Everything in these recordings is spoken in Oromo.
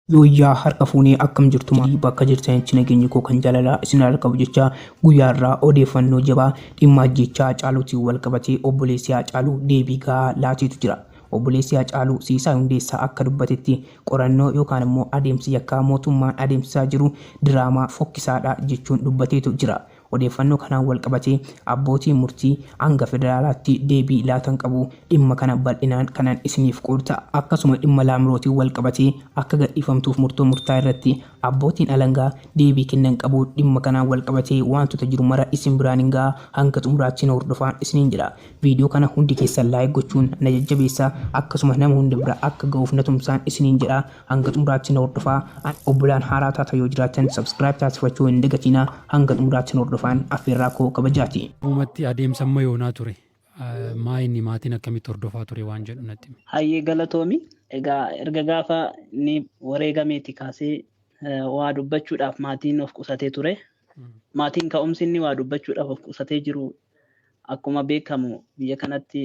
Yooyyaa harka fuunee akkam jirtu maatii bakka jirtanitti nageenyi koo kan jaalalaa isin haa qabu jechaa guyyaa irraa odeeffannoo jabaa dhimma ajjeechaa Hacaaluutiin wal qabatee obboleessi Hacaaluu deebii gahaa laateetu jira. Obboleessi Hacaaluu Siisaay Hundeessaa akka dubbatetti qorannoo yookaan immoo adeemsi yakkaa mootummaan adeemsisaa jiru diraamaa fokkisaadha jechuun dubbateetu jira. Odeeffannoo kanaan walqabatee abbootiin murtii hanga federaalaatti deebii laatan qabu. Dhimma kana bal'inaan kanan isiniif qoodu ta'a. Akkasuma dhimma Laamrootiin walqabatee akka gadhiifamtuuf murtoo murtaa'e irratti abbootiin alangaa deebii kennan qabu. Dhimma kanaan walqabatee waantota jiru mara isin biraan hin ga'a. Hanga xumuraatti na hordofaan isiniin jedha. Viidiyoo kana hundi keessan like gochuun na jajjabeessaa. Akkasuma nama hunda bira akka ga'uuf na tumsaan isiniin jedha. Hanga xumuraatti na hordofaa and obbolaan haaraa taata yoo jiraattan subscribe taasifachuu hin dagatina hanga xumuraatti na hordofaan affeerraa koo kabajaati. Dhugumatti adeemsa amma yoonaa ture maa inni maatiin akkamitti hordofaa ture waan jedhu natti himi. Hayyee galatoomi. Egaa erga gaafa inni wareegameeti kaasee waa dubbachuudhaaf maatiin of qusatee ture. Maatiin ka'umsi inni waa dubbachuudhaaf of qusatee jiru akkuma beekamu biyya kanatti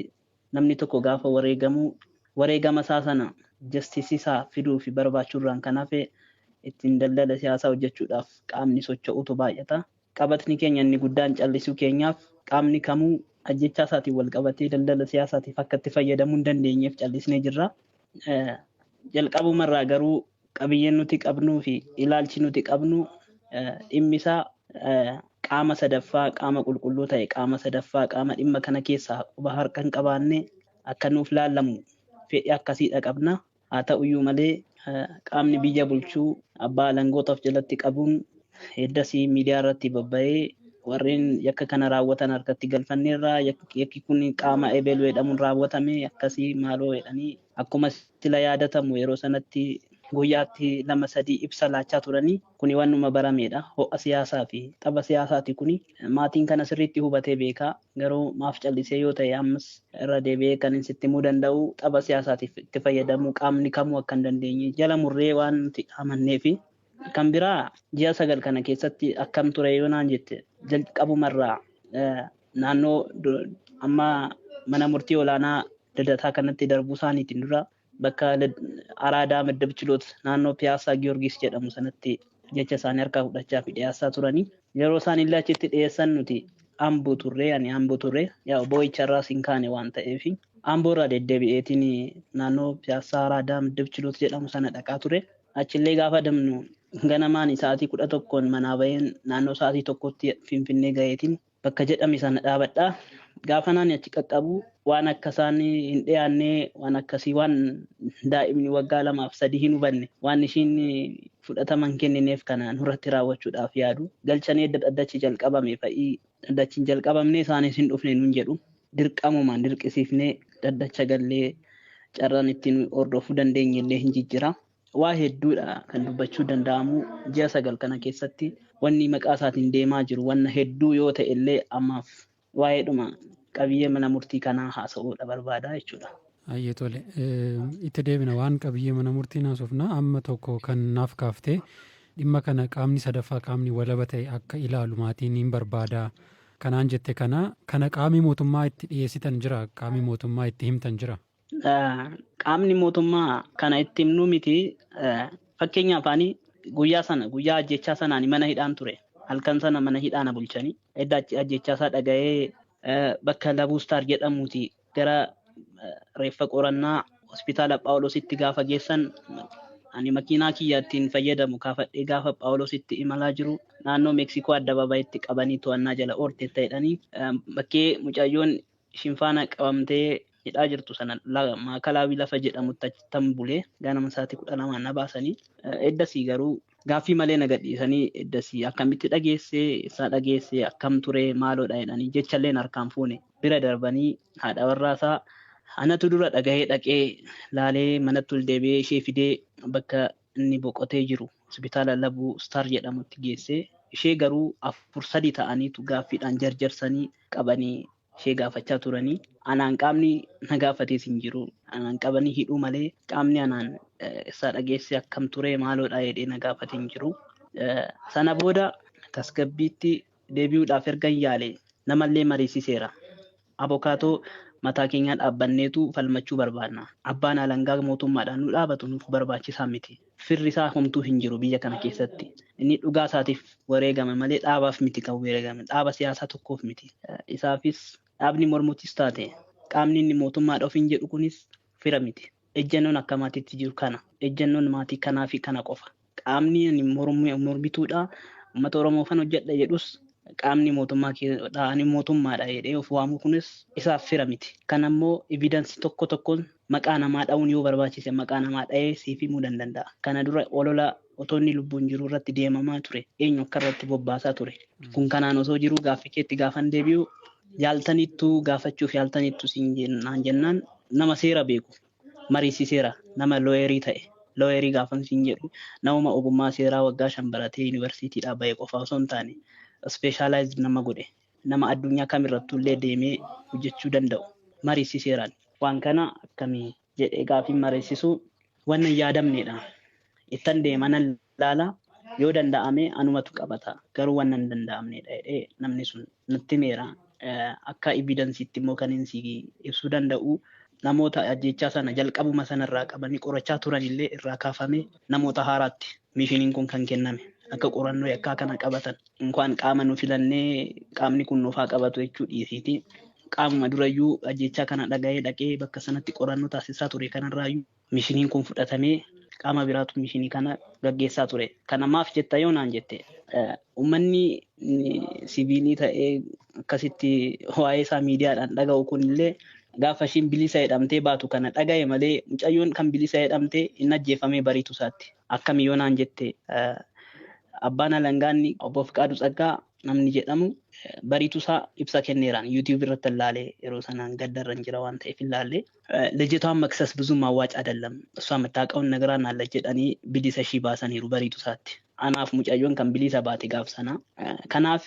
Namni tokko gaafa wareegamu wareegama isaa sana justice isaa fiduu fi barbaachuu irraan kan hafe ittiin daldala siyaasaa hojjechuudhaaf qaamni socho'utu baay'ata. Qabatni keenya inni guddaan callisuu keenyaaf qaamni kamuu ajjeechaa isaatiin wal qabatee daldala siyaasaatiif akka itti fayyadamuu hin dandeenyeef callisnee jirra. Jalqabuma irraa garuu Qabiyyeen nuti qabnuu fi ilaalchi nuti qabnu dhimmi isaa qaama sadaffaa, qaama qulqulluu ta'e, qaama sadaffaa, qaama dhimma kana keessa quba harka hin qabaanne akka nuuf laallamu fedhi akkasiidha qabna. Haa ta'u iyyuu malee qaamni biyya bulchuu abbaa alangoota of jalatti qabuun eddasii miidiyaa irratti babba'ee warreen yakka kana raawwatan harkatti galfanneerra yakki kun qaama ebelu jedhamuun raawwatame akkasii maaloo jedhanii Akkuma sila yaadatamu yeroo sanatti guyyaatti lama sadii ibsa laachaa turanii kuni wannuma barameedha. Ho'a siyaasaafi tapha siyaasaati kuni. Maatiin kana sirriitti hubatee beeka. Garuu maaf callisee yoo ta'e ammas irra deebi'ee kanin sitti himuu danda'u tapha siyaasaatiif itti fayyadamuu qaamni kamuu akka hin dandeenye jala murree waan nuti amanneefi. Kan biraa ji'a sagal kana keessatti akkam ture yoo naan jette jalqabumarraa naannoo amma mana murtii olaanaa dadataa kanatti darbuu isaaniitiin dura bakka araadaa madda bichiloot naannoo piyaasaa giyoorgis jedhamu sanatti jecha isaanii harkaa fudhachaa fi dhiyeessaa turanii yeroo isaan illee achitti dhiyeessan nuti amboo turree ani amboo turree yaa boo'icharraa siin kaane waan ta'eef amboo irraa deddeebi'eetiin naannoo piyaasaa araadaa madda bichiloot jedhamu sana dhaqaa ture Achillee gaafa adamnu ganamaan sa'aatii 11n manaa ba'een naannoo sa'aatii 1tti Finfinnee gaheetiin bakka jedhame sana dhaabadha. Gaafan ani achi qaqqabu waan akka isaan hin dhiyaanne waan akkasii waan daa'imni waggaa lamaaf sadii hin hubanne waan ishiin fudhatama hin kennineef kana nurratti raawwachuudhaaf yaadu galchanii edda dhaddachi jalqabame fa'ii Dhaddachi hin jalqabamne, isaanis hin dhufne nuun jedhu. Dirqamumaan dirqisiifnee dhaddacha gallee carraan itti nu hordofuu dandeenye illee hin jijjira. Waa hedduu dha kan dubbachuu danda'amu. Ji'a sagal kana keessatti wanni maqaa isaatiin deemaa jiru wanna hedduu yoo ta'e illee ammaaf waa'eedhuma qabiyyee mana murtii kanaa haasa'uu dha barbaada jechuu dha. Hayyee tole. Itti deebina waan qabiyyee mana murtii naasofna. Amma tokko kan naaf kaaftee dhimma kana qaamni sadaffaa qaamni walaba ta'e akka ilaalu maatiin hin barbaada. Kanaan jette kana kana qaamii mootummaa itti dhiyeessitan jira qaamii mootummaa itti himtan jira. Qaamni mootummaa kana itti himnuu miti fakkeenya afaanii guyyaa sana guyyaa ajjechaa sanaan mana hidhaan ture halkan sana mana hidhaa na bulchanii edda ajjechaa isaa dhaga'ee bakka Labuu Star jedhamuuti gara reeffa qorannaa hospitaala Phaawulositti gaafa geessan ani makiinaa kiyya ittiin fayyadamu kaafadhee gaafa Phaawulositti imalaa jiru naannoo Meeksikoo addabaabayitti qabanii to'annaa jala oolteetta jedhanii bakkee mucayyoon ishiin faana qabamtee hidhaa jirtu sana maakalaawii lafa jedhamutti achittan bule ganama sa'aatii kudha lamaan na baasanii eddasii garuu gaaffii malee na gadhiisanii eddasii akkamitti dhageessee eessaa dhageessee akkam turee maaloodha jedhanii jechalleen harkaan fuune bira darbanii haadha warraasaa anatu dura dhagahee dhaqee laalee manatti ol deebi'ee ishee fidee bakka inni boqotee jiru hospitaala labuu star jedhamutti geessee ishee garuu afur sadii ta'aniitu gaaffiidhaan jarjarsanii qabanii ishee gaafachaa turanii anaan qaamni na gaafatees hin jiru anaan qabanii hidhuu malee qaamni anaan isaa dhageesse akkam ture maaloodha jedhee na gaafate hin jiru sana booda tasgabbiitti deebi'uudhaaf ergan yaale namallee mariisiseera abokaatoo mataa keenyaa dhaabbanneetu falmachuu barbaanna abbaan alangaa mootummaadhaan nu dhaabatu nuuf barbaachisaa miti Firri isaa homtuu hin jiru biyya kana keessatti. Inni dhugaa isaatiif wareegame malee dhaabaaf miti kan weeregame. Dhaaba siyaasaa tokkoof miti. Isaafis dhaabni mormutis taate qaamni inni mootummaadha ofiin jedhu kunis fira miti. Ejjannoon akka maatiitti jiru kana. Ejjannoon maatii kanaafi kana qofa. Qaamni ani mormu mormituudha, uummata Oromoofan hojjedha jedhus qaamni mootummaa keedha, ani mootummaadha jedhee of waamu kunis isaaf fira miti. Kanammoo evidence tokko tokkoon Maqaa namaa dha'uun yoo barbaachise maqaa namaa dha'ee siif himuu dandanda'a. Kana dura olola otoo inni lubbuun jiruu irratti deemamaa ture eenyu akka irratti bobbaasaa ture? Kun kanaan osoo jiruu gaaffi keetti gaafan deebi'u yaaltaniittu gaafachuuf yaaltaniittu siin jen- naan jennaan nama seera beeku mariisiseera nama looyerii ta'e looyerii gaafan siin jedhu namuma ogummaa seeraa waggaa shan baratee yuunivarsiitiidhaa ba'e qofaa osoo hin taane ispeeshaalaayizd nama godhe nama addunyaa kam irrattuu illee deemee hojjechuu danda'u mariisiseeraan. Waan kana akkami? jedhee gaafiin mariisisuu waan hin yaadamneedha. Ittan deema nan laala yoo danda'ame anumatu qabata garuu waan hin danda'amneedha jedhee namni sun natti himeera. Akka evidansiitti immoo kanin si ibsuu danda'u namoota ajjeechaa sana jalqabuma sana irraa qabanii qorachaa turan illee irraa kaafamee namoota haaraatti miishiniin kun kan kenname akka qorannoo yakkaa kana qabatan. Inkwaan qaama nu filannee qaamni kun nuuf haa qabatu jechuu dhiisiiti. Qaamuma durayyuu ajjechaa kana dhaga'ee dhaqee bakka sanatti qorannoo taasisaa ture kanarraayyuu mishiniin kun fudhatamee qaama biraatu mishinii kana gaggeessaa ture. Kana maaf jetta yoo naan jette uummanni siviilii ta'ee akkasitti waa'ee isaa miidiyaadhaan dhaga'u kunillee gaafa ishiin bilisa jedhamtee baatu kana dhaga'e malee mucayyoon kan bilisa jedhamtee hin ajjeefamee bariitu isaatti. Akkami yoo naan jette abbaan alangaa inni obbo Fiqaaduu Tsaggaa namni jedhamu bariitusaa ibsa kenneeraan yuutiyuubii irrattan laale yeroo sanaan gaddarran jira waan ta'eef hin laalle. Lejjitwaan maksas buzuum awwaac adallam iswaa mattaaqawun nagraan alla jedhanii bilisa ishii baasaniiru bariitusaatti. Anaaf mucayyoon kan biliisa baate gaaf sanaa. Kanaaf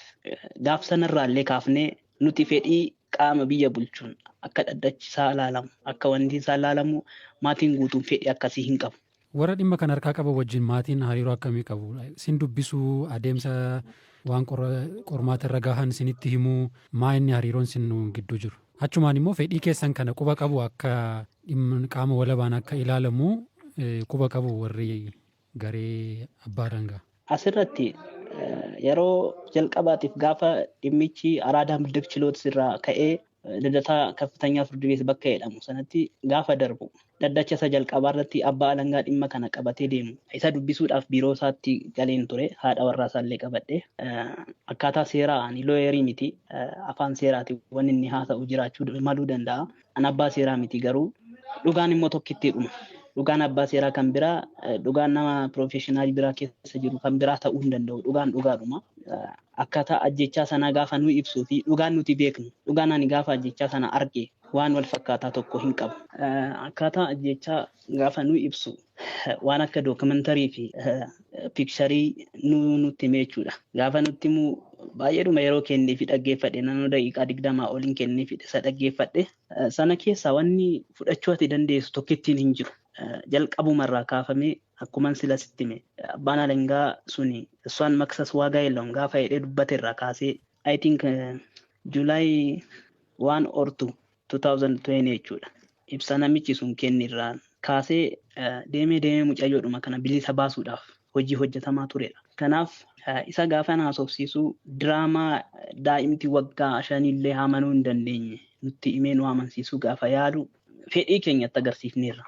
gaaf sanarraallee kaafnee nuti fedhii qaama biyya bulchuun akka dhaddachi isaa laalamu akka wanti isaa laalamu maatiin guutuun fedhii akkasii hin qabu. Warra dhimma kana harkaa qaban wajjin maatiin hariiroo akkamii qabu? Sin dubbisuu? Adeemsa waan qormaata irra gahan sinitti himuu? Maa inni hariiroon sin gidduu jiru? Achumaan immoo fedhii keessan kana quba qabu akka qaama walabaan akka ilaalamu quba qabu warri garee abbaa alangaa? Asirratti yeroo jalqabaatiif gaafa dhimmichi Araadaa Middak Chiloot irraa ka'ee Lidataa Kaffitanyaa Firdi Beet bakka jedhamu sanatti gaafa darbu dhaddacha isa jalqabaa irratti abbaa alangaa dhimma kana qabatee deemu isa dubbisuudhaaf biiroo isaatti galeen ture haadha warraa isaallee qabadhe akkaataa seeraa ani looyerii miti afaan seeraati wanni inni haasa'u jiraachuu maluu danda'a an abbaa seeraa miti garuu dhugaan immoo tokkittii dhuma dhugaan abbaa seeraa kan biraa dhugaan nama piroofeeshinaal biraa keessa jiru kan biraa ta'uu hin danda'u dhugaan dhugaadhuma Akkaataa ajjeechaa sanaa gaafa nuyi ibsuu fi dhugaan nuti beeknu, dhugaan ani gaafa ajjeechaa sana arge waan wal fakkaataa tokko hin qabu. Akkaataa ajjeechaa gaafa nuyi ibsu waan akka dookimentarii fi piikcharii nuu nutti hime jechuudha. Gaafa nutti himu baay'eedhuma yeroo kennee fi dhaggeeffadhe naannoo daqiiqaa digdamaa olin kennee fi isa dhaggeeffadhe. Sana keessaa wanni fudhachuu ati dandeessu tokkittiin hin jiru. Jalqabuma irraa kaafamee Akkuman sila sitti hime abbaan alangaa suni Swaan Maksas Waagaa Yeloon gaafa jedhee dubbate irraa kaasee I think July 1 or 2 2020 jechuudha. Ibsa namichi sun kenni irraa kaasee deemee deemee mucayyoodhuma kana bilisa baasuudhaaf hojii hojjetamaa turedha. Kanaaf isa gaafa na haasofsiisu diraamaa daa'imti waggaa shanillee amanuu hin dandeenye nutti himee nu amansiisuu gaafa yaalu fedhii keenya itti agarsiifneerra.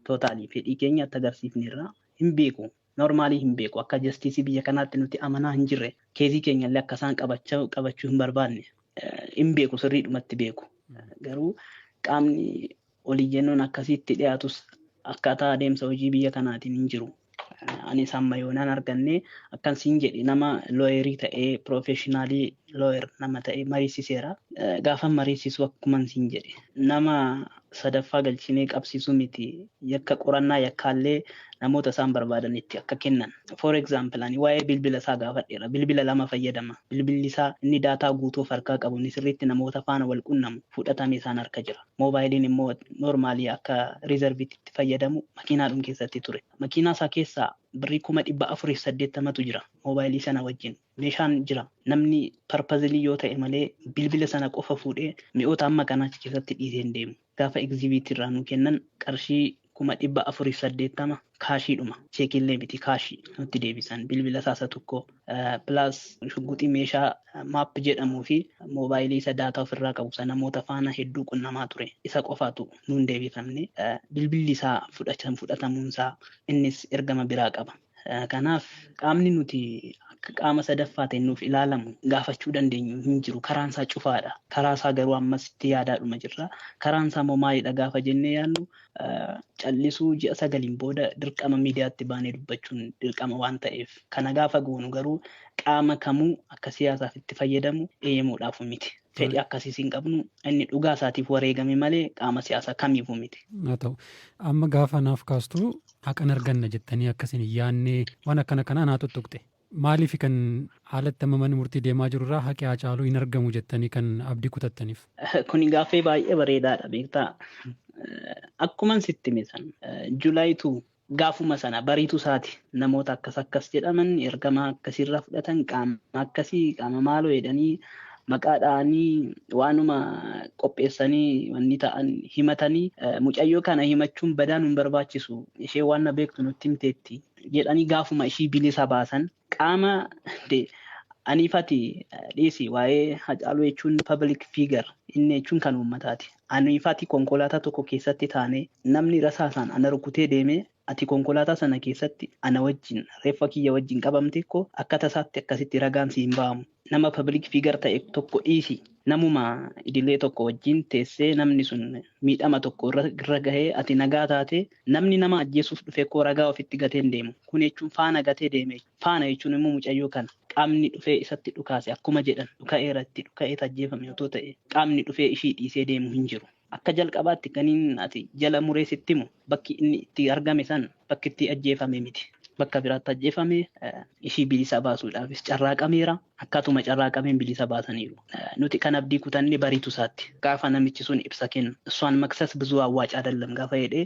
Totally fedhii keenya itti agarsiifneerra. Hin beeku. Normally hin beeku. Akka justice biyya kanaatti nuti amanaa hin jirre. Keezii keenya illee akka isaan qabachaa qabachuu hin barbaadne. Hin beeku sirriidhumatti beeku. Garuu qaamni oliyyannoon akkasiitti dhiyaatus akkaataa adeemsa hojii biyya kanaatiin hin jiru. Anis amma yoonaan arganne akkan siin jedhe nama looyerii ta'ee piroofeeshinaalii looyer nama ta'e mariisiseera. Gaafan mariisisu akkuman siin jedhe nama sadaffaa galchinee qabsiisuu miti yakka qorannaa yakkaallee namoota isaan barbaadanitti akka kennan. For example ani waa'ee bilbila isaa gaafadheera. Bilbila lama fayyadama. Bilbilli isaa inni daataa guutuu of harkaa qabu inni sirriitti namoota faana wal qunnamu fudhatame isaan harka jira. moobaayiliin immoo noormaalii akka riizarviitti itti fayyadamu makiinaadhum keessatti ture. Makiinaa isaa keessaa birrii kuma dhibba afuriif saddeettamatu jira moobaayilii sana wajjin. Meeshaan jira namni parpazilii yoo ta'e malee bilbila sana qofa fuudhee mi'oota amma kana achi keessatti dhiisee hin deemu. Gaafa egziibiitii irraa nu kennan qarshii kuma dhibba afuriif saddeettama kaashiidhuma cheekiillee miti kaashii nutti deebisan bilbila isaa isa tokko pilaas shugguxii meeshaa maap jedhamuu fi moobaayilii isa daataa ofirraa qabu isa namoota faana hedduu qunnamaa ture isa qofaatu nuun deebifamne bilbilli isaa fudhatamuun isaa innis ergama biraa qaba. Kanaaf qaamni nuti akka qaama sadaffaatiin nuuf ilaalamu gaafachuu dandeenyu hin jiru karaan isaa cufaadha karaa isaa garuu ammas itti yaadaadhuma jirra karaan isaa immoo maalidha gaafa jennee yaadnu callisuu ji'a sagaliin booda dirqama miidiyaatti baanee dubbachuun dirqama waan ta'eef kana gaafa goonu garuu qaama kamuu akka siyaasaaf itti fayyadamu eeyyamuudhaaf miti. Fedhii akkasiis hin qabnu inni dhugaa isaatiif wareegame malee qaama siyaasaa kamiifuu miti. Haa ta'u. Amma gaafa naaf kaastu haqan arganna jettanii akkasin hin yaadne waan akkana kanaa naa tuttuqxe. Maaliifi kan haalatti amma manni murtii deemaa jiru irraa haqi Haacaaluu hin argamu jettanii kan abdii kutattaniif? Kuni gaaffii baay'ee bareedaadha beektaa. Akkuman sitti hime san July 2 gaafuma sana bariitu isaati namoota akkas akkas jedhaman ergama akkasiirraa fudhatan qaama akkasii qaama maaloo jedhanii maqaa dha'anii waanuma qopheessanii wanni ta'an himatanii mucayyoo kana himachuun badaan hin barbaachisu ishee waan na beektu nutti himteetti jedhanii gaafuma ishii bilisa baasan qaama aniifati dhiisi waa'ee hacaaluu jechuun public figure inni jechuun kan uummataati. Aniifati konkolaataa tokko keessatti taanee namni rasaasaan ana rukutee deemee ati konkolaataa sana keessatti ana wajjin reeffa kiyya wajjin qabamte koo akka tasaatti akkasitti ragaan si hin ba'amu. Nama public figure ta'e tokko dhiisi namuma idilee tokko wajjin teessee namni sun miidhama tokko irra gahee ati nagaa taatee namni nama ajjeesuuf dhufe koo ragaa ofitti gatee hin deemu. Kun jechuun faana gatee deeme jechuudha. Faana jechuun immoo mucayyoo kana qaamni dhufee isatti dhukaase akkuma jedhan dhuka'eera itti dhuka'eet ajjeefame otoo ta'ee qaamni dhufee ishii dhiisee deemu hin jiru. Akka jalqabaatti kanin ati jala muree sitti himu bakki inni itti argame san bakki itti ajjeefame miti. Bakka biraatti ajjeefame ishii bilisa baasuudhaafis carraaqameera. Akkaatuma carraaqameen bilisa baasaniiru. Nuti kan abdii kutanne bariitu isaatti. Gaafa namichi sun ibsa kennu. Iswaan maksas buzuu awwaac adellam gaafa jedhee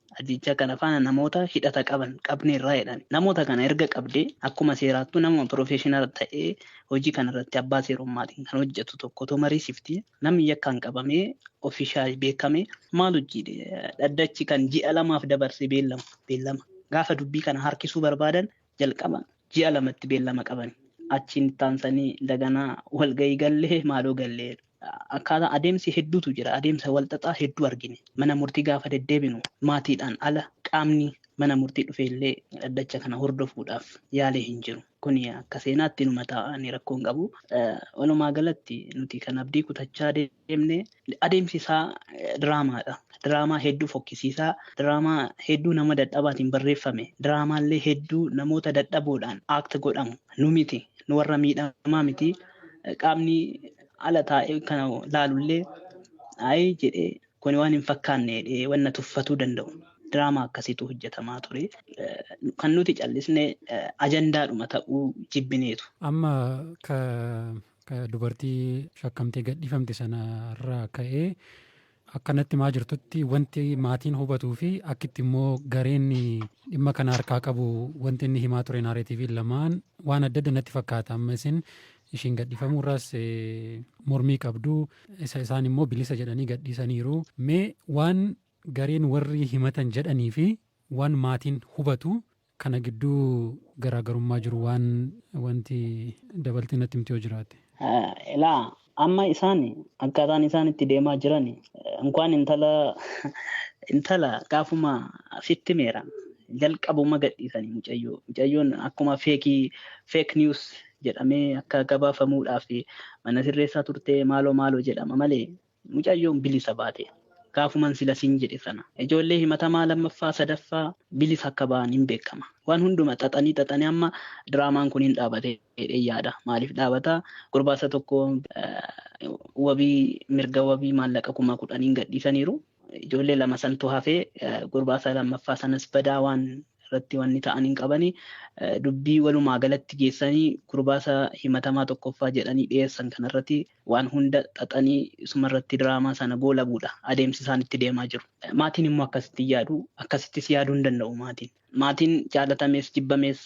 Ajjeechaa kana faana namoota hidhata qaban qabneerra jedhan. Namoota kana erga qabdee akkuma seeraattuu namuma piroofeeshinaala ta'ee hojii kanarratti abbaa seerummaatiin kan hojjetu tokko otoo mariisifti namni yakkaan qabamee ofiishaal beekame maal hojjiidhe dhaddachi kan ji'a lamaaf dabarse beellama beellama gaafa dubbii kana harkisuu barbaadan jalqaba ji'a lamatti beellama qabani. Achiin itti aansanii daganaa walgahii gallee maaloo gallee akkaataa adeemsi hedduutu jira. Adeemsa walxaxaa hedduu argine. Mana murtii gaafa deddeebinu maatiidhaan ala qaamni mana murtii dhufe illee dhaddacha kana hordofuudhaaf yaalee hin jiru. Kuni akka seenaatti numa taa'anii rakkoon qabu. Walumaa galatti nuti kan abdii kutachaa deemu. deemne adeemsi isaa diraamaadha. Diraamaa hedduu fokkisiisaa, diraamaa hedduu nama dadhabaatiin barreeffame, diraamaallee hedduu namoota dadhaboodhaan act godhamu. Nu miti, nu warra miidhamaa miti. Qaamni ala taa'ee kana laalullee ayi jedhee kuni waan hin fakkaanne jedhee wanna tuffatuu danda'u. Diraamaa akkasiitu hojjetamaa ture. Kan nuti callisne ajandaadhuma ta'uu jibbineetu. Amma ka Dubartii shakkamtee gadhiifamte sana irraa ka'ee akka natti himaa jirtutti wanti maatiin hubatuu fi akkitti immoo gareen dhimma kana harkaa qabu wanti inni himaa ture naareetiiviin lamaan waan adda adda natti fakkaata amma isin ishiin gadhiifamuu irraas mormii qabdu isa isaan immoo bilisa jedhanii gadhiisaniiru mee waan gareen warri himatan jedhanii fi waan maatiin hubatu Kana gidduu garaagarummaa jiru waan wanti dabaltee natti himtu yoo jiraate. Ilaa amma isaan akkaataan isaan itti deemaa jiran inkwaan intala intala gaafuma sitti meera jalqabuma gadhiisanii mucayyoo mucayyoon akkuma feekii feek niwus jedhamee akka gabaafamuudhaaf mana sirreessaa turtee maaloo maaloo jedhama malee Mucayyoon bilisa baate. Gaafuman sila siin jedhe sana ijoollee himatamaa lammaffaa, sadaffaa bilisa akka ba'an hin beekama. Waan hunduma xaxanii xaxanii amma diraamaan kun hin dhaabate jedheen yaada. Maaliif dhaabata? Gurbaasa tokko wabii mirga wabii maallaqa kuma kudhaniin gadhiisaniiru. Ijoollee lama santu hafee gurbaasa lammaffaa sanas badaa waan irratti wanni ta'an hin qabani. Dubbii walumaa galatti geessanii gurbaasa himatamaa tokkoffaa jedhanii dhiyeessan kanarratti Waan hunda xaxanii sumarratti diraamaa sana goolabuudha adeemsi isaan itti deemaa jiru. Maatiin immoo akkasitti hin yaadu. Akkasittis yaaduu hin danda'u maatiin. Maatiin jaalatamees jibbamees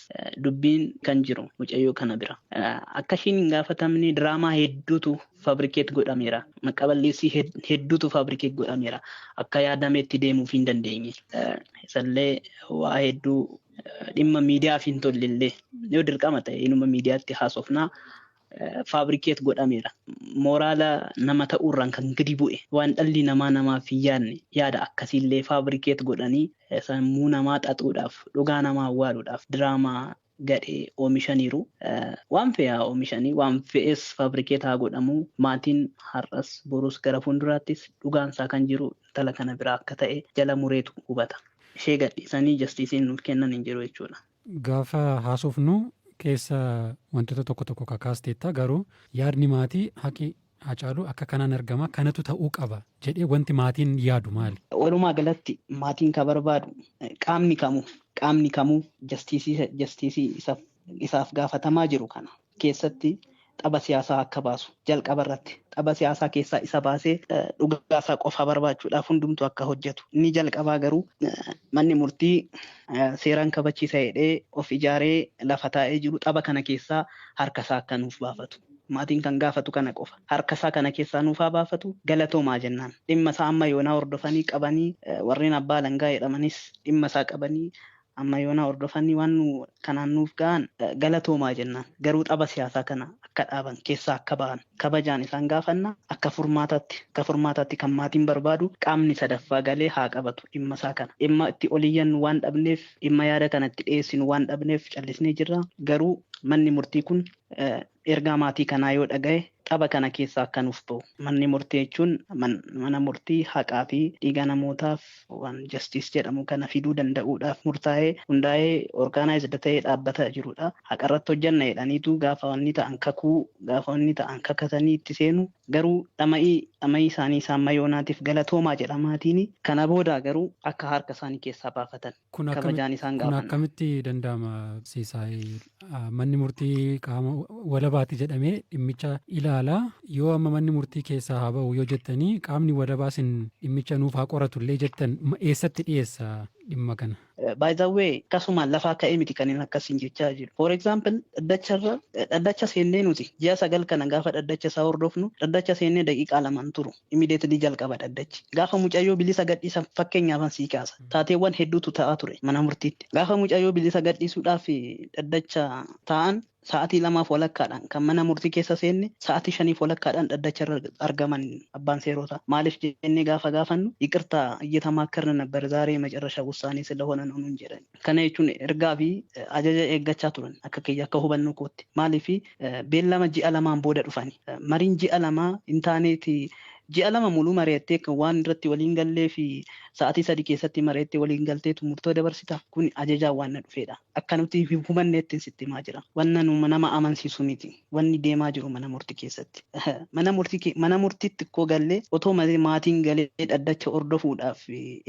dubbiin kan jiru mucayyoo kana bira. Akka ishiin hin gaafatamne diraamaa hedduutu fabrikeet godhameera. Maqaa balleessii hedduutu fabrikeet godhameera. Akka yaadameetti deemuuf hin dandeenye. Isallee waa hedduu dhimma miidiyaaf hin tollellee yoo dirqama ta'e inuma miidiyaatti haasofnaa faabrikeet godhameera. Mooraala nama ta'uurraan kan gadi bu'e waan dhalli namaa namaaf hin yaadne yaada akkasiillee faabrikeet godhanii sammuu namaa xaxuudhaaf dhugaa namaa awwaaluudhaaf diraamaa gadhee oomishaniiru. Waan fe'e haa oomishanii waan fe'es faabrikeet haa godhamuu maatiin har'as borus gara fuulduraattis dhugaan isaa kan jiru intala kana biraa akka ta'e jala mureetu hubata. Ishee gadhiisanii jastiisiin nuuf kennan hin jiru jechuudha. Gaafa haasofnu keessa wantoota tokko tokko kakaasteetta garuu yaadni maatii haqi Haacaaluu akka kanaan argama kanatu ta'uu qaba jedhee wanti maatiin yaadu maali? Walumaa galatti maatiin ka barbaadu qaamni kamuu qaamni kamuu jastiisii jastiisii isaaf isaaf gaafatamaa jiru kana keessatti xaba siyaasaa akka baasu jalqaba irratti xaba siyaasaa keessaa isa baasee dhugaa isaa qofaa barbaachuudhaaf hundumtuu akka hojjetu inni jalqabaa garuu manni murtii seeraan kabachiisa jedhee of ijaaree lafa taa'ee jiru xaba kana keessaa harka isaa akka nuuf baafatu. Maatiin kan gaafatu kana qofa. Harka isaa kana keessaa nuuf haa baafatu galatoomaa jennaan. Dhimma isaa amma yoonaa hordofanii qabanii warreen abbaa alangaa jedhamanis dhimma isaa qabanii Amma yoonaa hordofanii waan nu kanaan nuuf ga'aan galatoomaa jennaan. Garuu xaba siyaasaa kana akka dhaaban, keessaa akka ba'an kabajaan isaan gaafanna. Akka furmaataatti akka furmaataatti kan maatiin barbaadu qaamni sadaffaa galee haa qabatu dhimma isaa kana. Dhimma itti ol iyyannu waan dhabneef, dhimma yaada kana itti dhiyeessinu waan dhabneef callisnee jirra. Garuu manni murtii kun Ergaa maatii kanaa yoo dhagahe xaba kana keessaa akka nuuf bahu. Manni murtii jechuun mana murtii haqaa fi dhiiga namootaaf waan justice jedhamu kana fiduu danda'uudhaaf murtaa'ee, hundaa'ee, organized ta'ee dhaabbata jiru dha. Haqa irratti hojjenna jedhaniitu gaafa wanni ta'an kakuu, gaafa wanni ta'an kakatanii itti seenu. Garuu dhama'ii dhama'ii isaanii isa amma yoonaatiif galatoomaa jedha maatiini. Kana boodaa garuu akka harka isaanii keessaa baafatan. Kun akkami- kabajaan isaan kun gaafanna. akkamitti danda'ama Siisaay? Ah, Manni murtii qaama walabaati jedhamee dhimmicha ilaala. Yoo amma manni murtii keessaa haa ba'u yoo jettanii qaamni walabaa sin dhimmicha nuuf haa qoratu illee jettan ma- eessatti dhiyeessa dhimma kana? By the way, akkasuma lafaa ka'ee miti kan inni akkasiin jechaa jiru. For example, dhaddacharra dhaddacha seennee nuti ji'a sagal kana gaafa dhaddacha isaa hordofnu dhaddacha seennee daqiiqaa lamaan turu. Immediately jalqaba dhaddachi. Gaafa mucayyoo bilisa gadhiisan fakkeenyaafan sii kaasa. Taateewwan hedduutu ta'aa ture mana murtiitti. Gaafa mucayyoo bilisa gadhiisuudhaaf dhaddacha taa'an sa'aatii lamaaf walakkaadhaan kan mana murtii keessa seenne sa'aatii shaniif walakkaadhaan dhaddacharra argaman abbaan seerootaa. Maaliif jennee gaafa gaafannu yiqirtaa iyyatamaakkarna nabbar zaaree macarrashaa wussaanee silahoona noo nuun jedhani. Kana jechuun ergaa fi ajaja eeggachaa turan akka kiyya akka hubannoo kootti. Maaliif beellama ji'a lamaan booda dhufani. Mariin ji'a lamaa hin taaneeti ji'a lama muluu mari'attee kan waan irratti waliin gallee fi sa'aatii sadi keessatti mari'attee waliin galteetu murtoo dabarsita. Kun ajajaan waan na dhufeedha. Akka nuti hin hubanneetti sitti himaa jira. Wanna nama amansiisu miti. Wanni deemaa jiru mana murti keessatti. Mana murti ke- mana murtiitti koo gallee otoo ma- maatiin galee dhaddacha hordofuudhaaf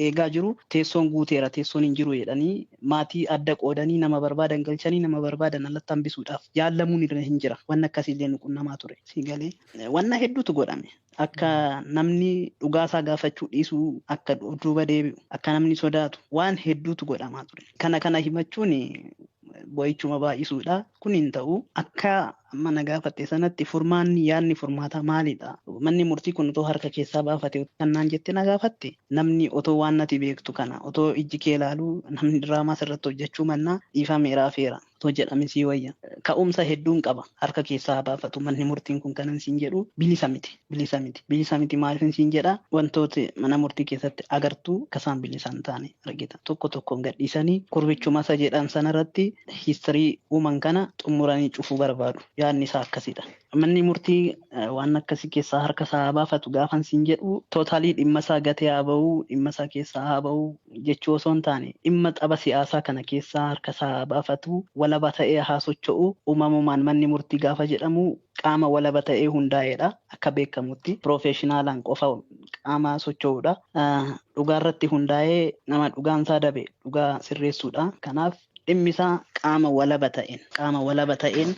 eegaa jiru teessoon guuteera teessoon hin jiru jedhanii maatii adda qoodanii nama barbaadan galchanii nama barbaadan alatti hambisuudhaaf yaallamuun irra hin jira. Wanni akkasii illee nu qunnamaa ture. Si galee wanna hedduutu godhame. Akka namni dhugaa isaa gaafachuu dhiisuu akka of duuba deebi'u akka namni sodaatu waan hedduutu godhamaa ture. Kana kana himachuun boo'ichuma baay'isuudha. Kun hin ta'u akka amma na gaafatte sanatti furmaanni yaadni furmaataa maalidha? Manni murtii kun otoo harka keessaa baafate kan naan jette na gaafatte namni otoo waan nati beektu kana otoo ijji kee ilaaluu namni diraamaa sirratti hojjechuu mannaa dhiifameera hafeera. Otoo jedhame sii wayya. Ka'umsa hedduun qaba. Harka keessaa haa baafatu. Manni murtiin kun kanan siin jedhu bilisa miti. Bilisa miti. Bilisa miti maaliifin siin jedha wantooti mana murtii keessatti agartu akka isaan bilisa hin taane argita. Tokko tokkoon gadhiisanii gurbichuma isa jedhan sanarratti history uuman kana xummuranii cufuu barbaadu. Yaadni isaa akkasidha. Manni murtii waan akkasii keessaa harka isaa haa baafatu gaafan siin jedhu tootaalii dhimma isaa gatee haa ba'u, dhimma isaa keessaa haa ba'u jechuu osoo hin taane dhimma xaba siyaasaa kana keessaa harka isaa haa baafatu, walaba ta'ee haa socho'u. Uumamumaan manni murtii gaafa jedhamu qaama walaba ta'ee hundaa'eedha. Akka beekamutti piroofeeshinaalaan qofa qaama socho'uudha. Dhugaa irratti hundaa'ee nama dhugaan isaa dabe dhugaa sirreessuudha. Kanaaf dhimmi isaa qaama walaba ta'een, qaama walaba ta'een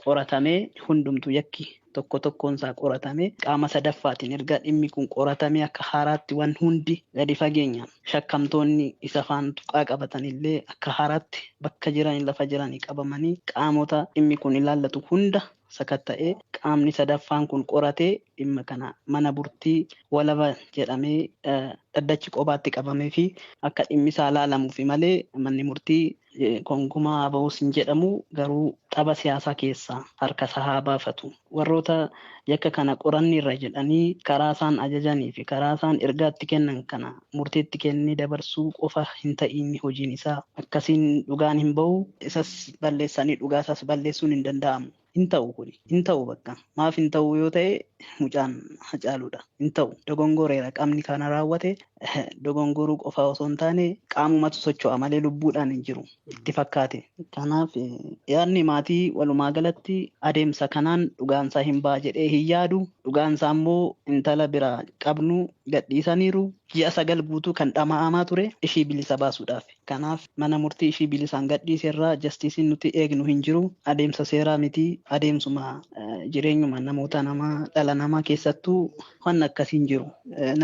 qoratamee hundumtuu yakki tokko tokkoon isaa qoratamee qaama sadaffaatiin erga dhimmi kun qoratamee akka haaraatti waan hundi gadi fageenyaan shakkamtoonni isa faan tuqaa qabatan illee akka haaraatti bakka jiranii lafa jiranii qabamanii qaamota dhimmi kun ilaallatu hunda sakatta'ee qaamni sadaffaan kun qoratee dhimma kana mana burtii walaba jedhamee dhaddachi qobaatti qabamee fi akka dhimmi isaa laalamuufi malee manni murtii gonkumaa haa ba'us hin jedhamu garuu xaba siyaasaa keessaa harka isaa haa baafatu warroota yakka kana qoranneerra jedhanii karaa isaan ajajanii fi karaa isaan ergaatti kennan kana murtii itti kennee dabarsuu qofa hin ta'iin hojiin isaa. akkasiin dhugaan hin ba'u, isas balleessanii dhugaa isaas balleessuun hin danda'amu. Hin ta'u kuni. Hin ta'u bakka. Maaf hin ta'u yoo ta'e mucaan Hacaaluu dha. Hin ta'u. Dogongoreera qamni kana raawwate dogongoruu qofaa osoo hin taane qaamumatu socho'a malee lubbuudhaan hin jiru. Itti fakkaate. Kanaaf yaadni maatii walumaa galatti adeemsa kanaan dhugaan isaa hin ba'a jedhee hin yaadu. Dhugaan isaa immoo intala biraa qabnu gadhiisaniiru. Ji'a sagal guutuu kan dhama'amaa ture ishii bilisa baasuudhaafi. Kanaaf mana murtii ishii bilisaan gadhiise irraa jastiisiin nuti eegnu hin jiru. Adeemsa seeraa miti. Adeemsuma jireenyuma namoota namaa, dhala namaa keessattuu wanni akkasii hin jiru.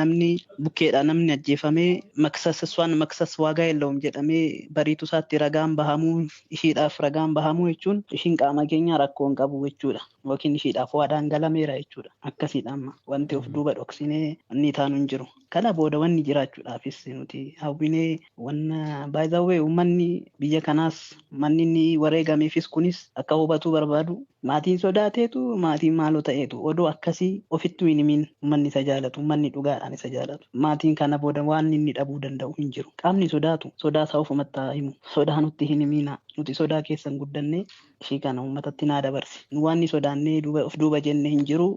Namni bukkeedhaa namni ajjeefamee maksas iswaan maksas waagaa yellawum jedhamee bariitu isaatti ragaan bahamuu ishiidhaaf ragaan bahamuu jechuun ishiin qaama keenyaa rakkoo hin qabu jechuudha. yookiin ishiidhaaf waadaan galameera jechuudha. Akkasiidha amma wanti of duuba dhoksinee wanni taanu hin jiru. Kana booda wanni jiraachuudhaafis nuti hawwinee wanna by the way uummanni biyya kanaas manni inni wareegameefis kunis akka hubatuu barbaadu maatiin sodaateetu maatiin maaloo ta'eetu odoo akkasii ofittuu hin himiin uummanni isa jaalatu uummanni dhugaadhaan isa jaalatu maatiin kana booda waan inni dhabuu danda'u hin jiru qaamni sodaatu sodaa isaa ofumatti haa himu sodaa nutti hin himiina nuti sodaa keessan guddannee ishii kana uummatatti naa dabarsi. Nu waan ni sodaannee duuba of duuba jenne hin jiru.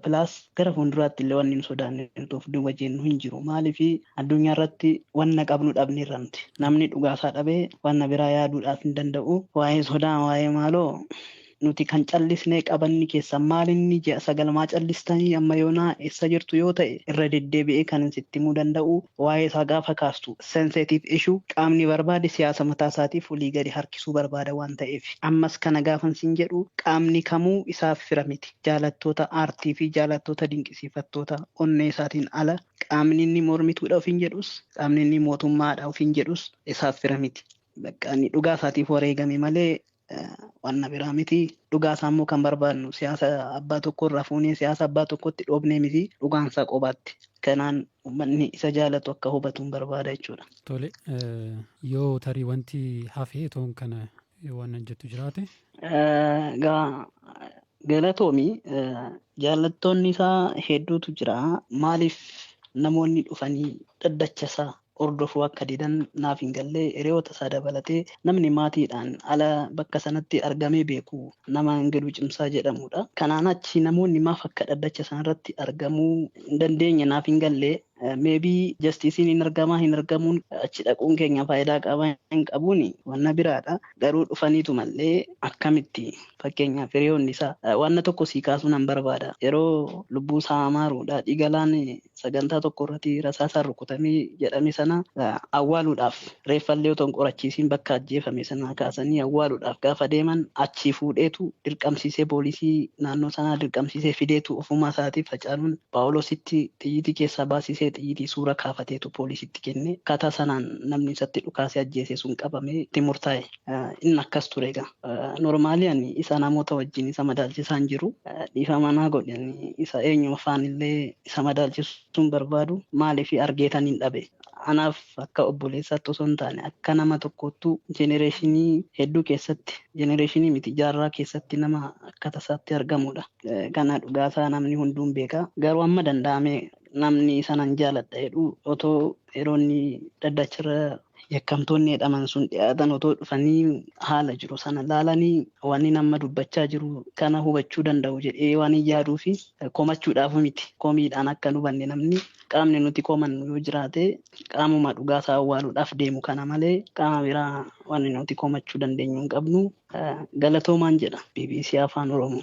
Pilaas gara fuulduraatti illee wanni nu sodaannee nuti of duuba jennu hin jiru. Maaliif addunyaa irratti wanna qabnu dhabne irra miti. Namni dhugaasaa dhabee wanna biraa yaaduudhaaf hin danda'u. Waa'ee sodaa waa'ee maaloo nuti kan callisnee qabanni keessan maal inni ji'a sagal maa callistanii amma yoonaa eessa jirtu yoo ta'e irra deddeebi'ee kan sitti himuu danda'u waa'ee isaa gaafa kaastu sensitive issue, qaamni barbaade siyaasa mataa isaatiif olii gadi harkisuu barbaada waan ta'eef. Ammas kana gaafan siin jedhu qaamni kamuu isaaf fira miti. Jaalattoota aartii fi jaalattoota dinqisiifattoota onnee isaatiin ala qaamni inni mormituudha ofiin jedhus, qaamni inni mootummaadha ofiin jedhus isaaf fira miti. Bakka inni dhugaa isaatiif wareegame malee wanna biraa miti. Dhugaa isaa immoo kan barbaadnu siyaasa abbaa tokko irraa fuunee siyaasa abbaa tokkotti dhoobnee miti. Dhugaan isaa qobaatti. Kanaan uummanni isa jaalatu akka hubatu hin barbaada jechuudha. Tole yoo tarii wanti hafee toon kana waan jettu jiraate. Egaa Galatoomi jaallattoonni isaa hedduutu jira. Maaliif namoonni dhufanii dhaddacha isaa hordofuu akka didan naaf hin galle. Hiriyoota isaa dabalatee namni maatiidhaan ala bakka sanatti argamee beeku nama Ingiluu Cimsaa jedhamudha. Kanaan achi namoonni maaf akka dhaddacha sanarratti argamuu hin dandeenye naaf hin galle. Maybe jastiisiin hin argamaa hin argamuun achi dhaquun keenya faayidaa qaba hin qabuun wanna biraadha. Garuu dhufaniitu mallee akkamitti fakkeenyaaf hiriyoonni isaa wanna tokko sii kaasuu nan barbaada. Yeroo lubbuu isaa amaaruu daadhii galaan sagantaa tokko irratti rasaasaan rukutamee jedhame sana awwaaluudhaaf Reeffallee otoo hin qorachiisiin bakka ajjeefame sanaa kaasanii awwaaluudhaaf gaafa deeman achii fuudheetu dirqamsiisee poolisii naannoo sanaa dirqamsiisee fideetu ofumaa isaatiif Hacaaluun Phaawuloositti xiyyitii keessaa baasisee xiyyitii suura kaafateetu poolisiitti kenne. Akkaataa sanaan namni isatti dhukaasee ajjeese sun qabamee itti murtaa'e. Inni akkas ture egaa. Normaalii ani isa namoota wajjin isa madaalchisaa hin jiru. Dhiifama naa godhi ani isa eenyuma faanillee isa madaalchisuu hin barbaadu. Maaliif argeetaniin dhabe. Anaaf akka obboleessaatti osoo hin taane akka nama tokkoottuu jenereeshinii hedduu keessatti jenereeshinii miti jaarraa keessatti nama akka tasaatti argamudha. Kana dhugaasaa namni hunduun beeka. Garuu amma danda'ame namni sanan jaaladha jedhu otoo yeroonni dhaddachirra yakkamtoonni jedhaman sun dhiyaatan otoo dhufanii haala jiru sana laalanii wanni nama dubbachaa jiru kana hubachuu danda'u jedhee waan hin yaaduu fi komachuudhaaf miti komiidhaan akka hin hubanne namni qaamni nuti komannu yoo jiraate qaamuma dhugaa isaa awwaaluudhaaf deemu kana malee qaama biraa waan nuti komachuu dandeenyu hin qabnu. Galatoomaan jedha bbc Afaan Oromoo.